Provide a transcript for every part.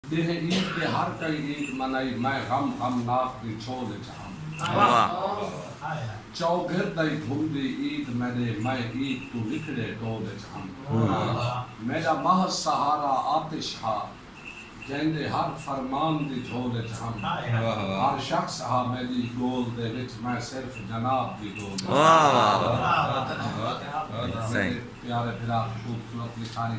ݙینہ عید دے ہر کئی عید منائی میں غم غم ناک دی چھول اچ ہم چوگھر دائی گھمدی عید میݙے میں عید توں نکھڑے ڈول اچ ہم میݙا محض سہارا آتش ہا جیندے ہر فرمان دی جھول اچ ہم ہر شخص ہا میݙی گول دے وچ میں صرف جناب دی گول اچ ہم میݙے پیارے بھرا خوبصورت لکھاری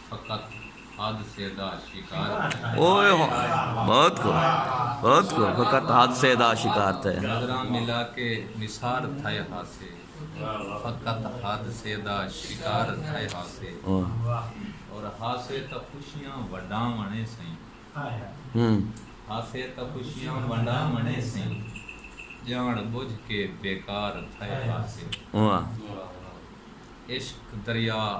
فقط حادثے دا شکار تھئے ہا۔ نظراں ملا کے نثار تھئے ہاسے۔ فقط حادثے دا شکار تھئے ہاسے۔ اور ہاسے تاں خوشیاں ونڈاں ونے سئیں۔ ہاسے تاں خوشیاں ونڈاں ونے سئیں۔ جان بجھ کے بیکار تھئے ہاسے۔ عشق دریا۔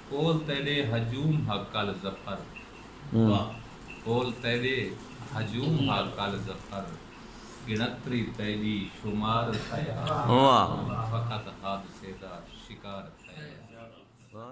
کول تیڈے ہجوم ہا کل ظفر واہ کول تیڈے ہجوم ہا کل ظفر گنتری تیڈی شمار تھئے ہا فقط حادثے دا شکار تھئے ہا۔